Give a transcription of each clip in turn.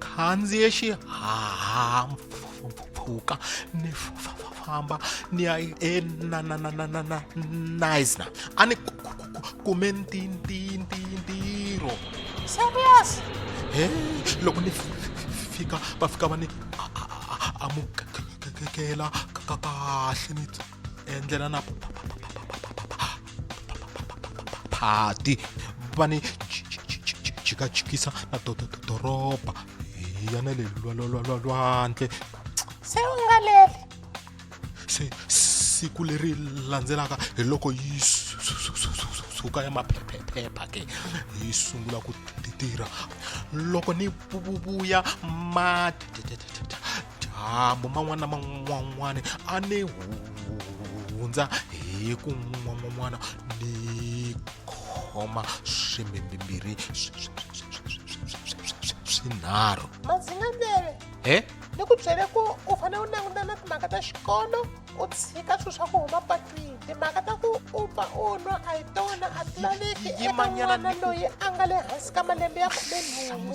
khandziye xihahampfhuka ni famba ni ya enaisna a ni kume ntirho serious he loko ni fika va fika va ni amukela kahle ni endlela na phati va ni jikajikisa na doroba hi ya na le lwandle se u nga leli se siku leri landzelaka hi loko yi suka ya maphephephepha ke yi sungula ku tirha loko ni vuya ma dyambu man'wana na man'wan'wana a ni hundza hi ku n'wan'wan'wana ni khoma swimbimbirhi swinharhu madzinganele he ni ku byele ku u fanele u languta na timhaka ta xikolo u tshika swilo swa ku huma patwini timhaka ta ku u pfa u nwa a hi tona a ti laveki eka n'wana loyi a nga le hansi ka malembe ya khumenhungu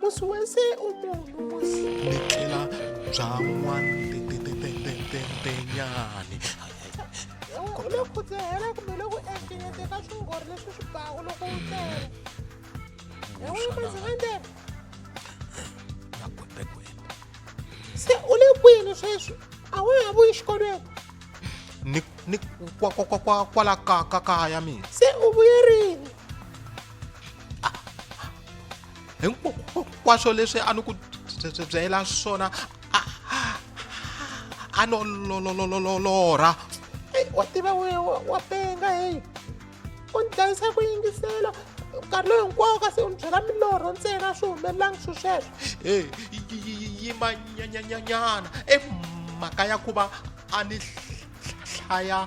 musi wese u munhu musi ni tlhela bya n'wantetetetetenyani loko u dzehela kumbe loko ehlekete ka swingori leswi swi baku loko u tele ewimaziwendele se u le kwini sweswi a wa ha vuyi xikolweni ni kwala kaya mina se u vuyerini hinkwaswo leswi a ni ku byela swona a no lololololora wa tiva wa penga heyi u ni dlayisa ku yingisela nkarhi lowu hinkwawo kasi u ni byela milorho ntsena swi humelelangi swi sweswo e yimanyanyanyana emhaka ya ku va a ni hlaya